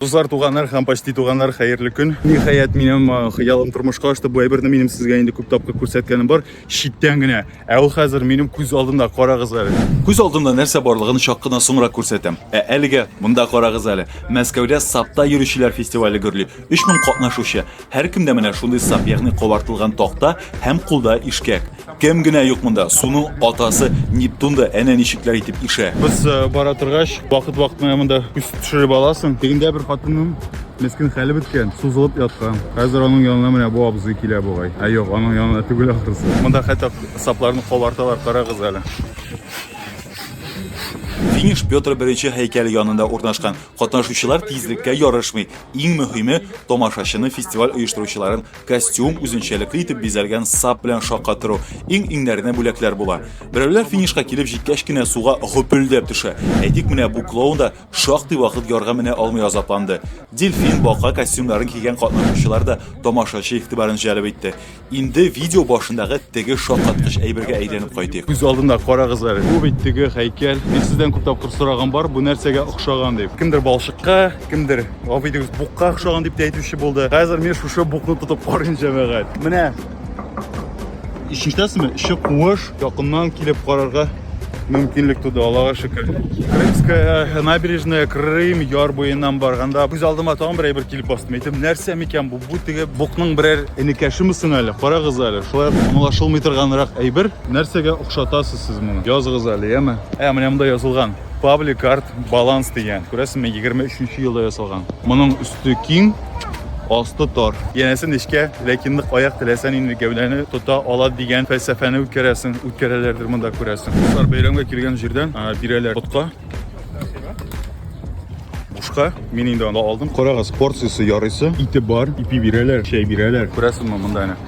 Дуслар, туганнар һәм почти туганнар, хәерле көн. Ниһаять, минем хыялым тормышка ашты. Бу әйберне минем сезгә инде күп тапкыр күрсәткәнем бар, читтән генә. Ә ул хәзер минем күз алдымда, карагыз әле. Күз алдымда нәрсә барлыгын чак кына соңрак күрсәтәм. Ә әлегә монда карагыз әле. Мәскәүдә сапта йөрүчеләр фестивале гөрли. 3000 катнашучы. Һәркемдә менә шундый сап, ягъни кабартылган такта һәм кулда ишкәк. Кем генә юк монда, суның атасы Нептун да әнә ничекләр итеп ишә. Без э, бара торгач, вакыт-вакыт менә монда күз төшереп аласың. Тегендә бер хатынның мескен хәле беткән, сузылып яткан. Хәзер аның янына менә бу абзый килә бугай. Ә юк, аның янына түгел ахрысы. Монда хәтта сапларны кабарталар, карагыз әле. Финиш Петр I һәйкәле янында урнашкан. Катнашучылар тизлеккә ярышмый. Иң мөһиме, тамашачыны фестиваль оештыручыларын костюм, үзенчәлекле итеп бизәлгән сап белән шакка тору, иң-иңнәренә бүләкләр була. Берәүләр финишка килеп җиткәч кенә суга гөпелдәп төшә. Әйтик, менә бу клоун да шактый вакыт ярга менә алмый азапланды. Дельфин, бака костюмнарын кигән катнашучылар да тамашачы игътибарын җәлеп итте. Инде видео башындагы теге шаккаткыч әйбергә әйләнеп кайтыйк. Күз алдында карагыз әле. Бу бит теге һәйкәл. Мин сездән күп тапкыр сораган бар, бу нәрсәгә охшаган дип. Кемдер балчыкка, кемдер гафу итегез букка охшаган дип тә әйтүче булды хәзер мен шушы букны тотып карыйм җәмәгать менә ишетәсезме эче куыш якыннан килеп карарга мөмкинлек туды аллага шөкер крымская э, набережная крым яр буеннан барганда күз алдыма тагын бер әйбер килеп басты әйтем нәрсә микән бу бу теге букның берәр энекәшеме соң әле карагыз әле шулай аңлашылмый торганрак әйбер нәрсәгә охшатасыз сез моны языгыз әле яме ә менә монда язылган Public Art Balance дигән. Күрәсеңме, 23 елда ясалган. Моның өсте киң, асты тар. Янәсе нечкә, ләкин нык аяк теләсән инде гәүдәне тота ала дигән фәлсәфәне үткәрәсең, үткәрәләрдер монда күрәсең. Кызлар бәйрәмгә килгән җирдән бирәләр ботка. Бушка. Мин инде аны алдым. Карагыз, порциясе ярыйсы, ите бар, ипи бирәләр, чәй бирәләр. Күрәсеңме монда әнә?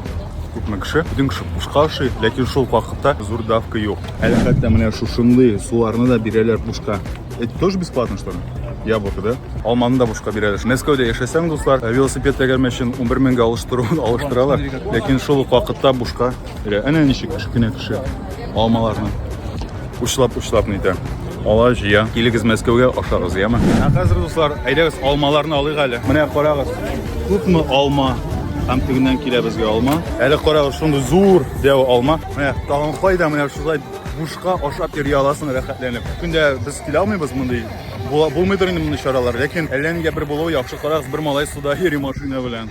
Күпме кеше үтен кеше бушка ашый, ләкин шул ук вакытта зур давка юк. Әле хәтта менә шушындый суларны да бирәләр бушка. Это тоже бесплатно, что ли? Яблоко, да? Алманы да бушка бирәләр. Мәскәүдә яшәсәң, дуслар, э, велосипед тәгәрмә өчен 11 меңгә алыштыруын алыштыралар, ләкин шул ук вакытта бушка. Әнә ничек кечкенә кеше алмаларны. Учлап, учлап нитә. Ала җыя. Килегез Мәскәүгә, ашагыз, яме. Ә хәзер, дуслар, әйдәгез, алмаларны алыйк әле. Менә карагыз, күпме алма. Һәм тегеннән килә безгә алма. Әле карагыз, шундый зур дәү алма. Менә тагын кайда, менә шулай бушка ашап йөри аласың рәхәтләнеп. Көндә без килә алмыйбыз мондый булмыйдыр инде мондый чаралар, ләкин әллә нигә бер булуы яхшы. Карагыз, бер малай суда йөри машина белән.